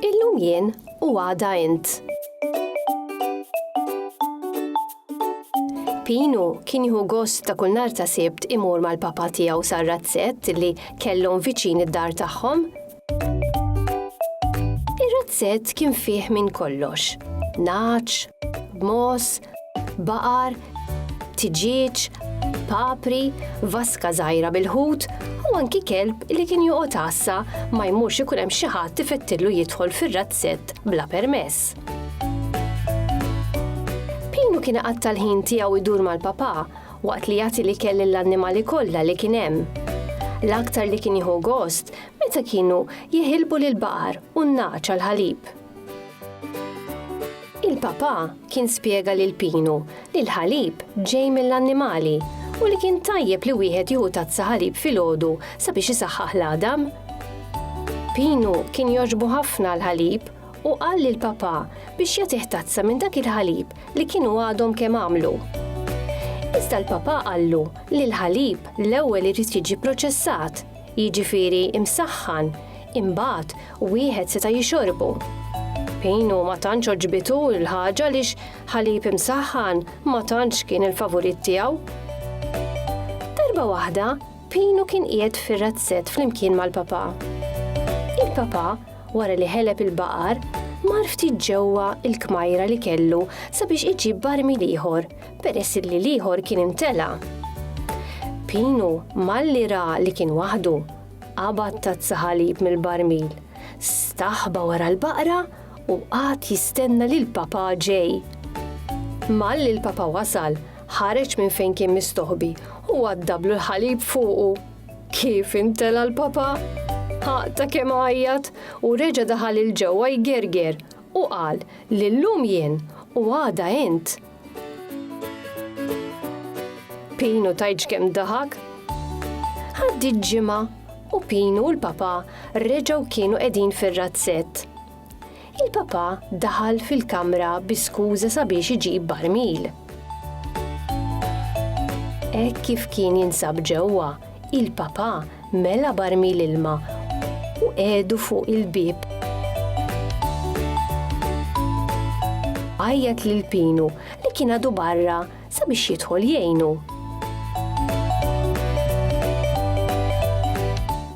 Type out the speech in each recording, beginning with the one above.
Illum jien u għada int. Pinu kien jieħu gost ta' kull nhar ta' Sibt imur mal-papà tiegħu sar-razzett li kellhom viċin id-dar tagħhom. Ir-razzett kien fih minn kollox. Naċ, b'mos, baqar, tiġieġ, papri, vaska żgħira bil-ħut u anki kelb li kien joqgħod għassa ma jmurx ikun hemm xi ħadd ifettillu jidħol fir-razzett bla permess. Pinu kien qatta l-ħin tiegħu jdur mal-papà Waqt li jagħti l-ikel lill-annimali kollha li kien hemm. L-aktar li kien jieħu gost meta kienu jiħilbu lill-baqar u n-nagħaġ għall-ħalib. Il-papà kien spjega lil Pinu li l-ħalib ġej mill-annimali u li kien tajjeb li wieħed jieħu tazza ħalib filgħodu sabiex isaħħaħ l-għadam. Pinu kien jogħġbu ħafna l-ħalib u qal lil papà biex jagħtih tazza minn dak il-ħalib li kienu għadhom kemm għamlu. Iżda l-papà qallu li l-ħalib l-ewwel irid jiġi proċessat, jiġifieri imsaħħan, imbagħad wieħed seta' jixorbu. Pinu ma tantx għoġbitu l-ħaġa għaliex ħalib imsaħħan ma tantx kien il-favorit tiegħu. Darba waħda, Pinu kien qiegħed fir-razzett flimkien mal-papà. Il-papà wara li ħeleb il-baqar, mar ftit ġewwa l-kmajra li kellu sabiex iġib barmil ieħor peress li l-ieħor kien imtela'. Pinu, malli ra li kien waħdu, qabad tazza ħalib mill-barmil, staħba wara l-baqra u qagħad jistenna lil papà ġej. Malli l-papà wasal, ħareġ minn fejn kien mistoħbi u għaddablu l-ħalib fuqu. Kif intela' l-Papa? Ħa ta' kemm għajjat u reġa' daħal 'il ġewwa jgerger u qal li llum jien u għada int. Pinu tgħidx kemm daħak? Għaddiet ġimgħa u Pinu u l-Papa reġgħu kienu qegħdin fir-razzett. Il-Papa daħal fil-kamra bi skuża sabiex iġib barmil. Hekk kif kien jinsab ġewwa, il-Papa mela barmil ilma u qiegħdu fuq il-bieb. Għajjat lil Pinu li kien għadu barra sabiex jidħol jgħinu.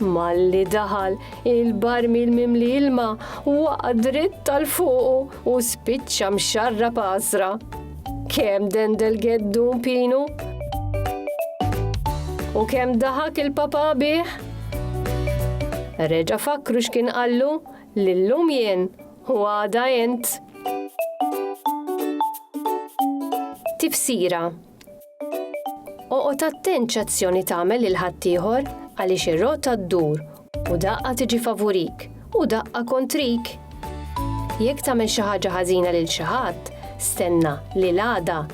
Malli daħal il-barmil mimli ilma waqa' dritt tal fuqu u spiċċa mxarra pasra. Kem dendel geddu pinu? U kem daħak il-papa bih? Reġa fakru x'kien qallu lillum jien Hu għada int. Tifsira Oqgħod attent x'azzjoni tagħmel lil ħaddieħor għaliex ir-rota ddur u daqqa tiġi favurik u daqqa kontrik. Jekk tagħmel xi ħaġa ħażina lil xi ħadd, stenna li l-għada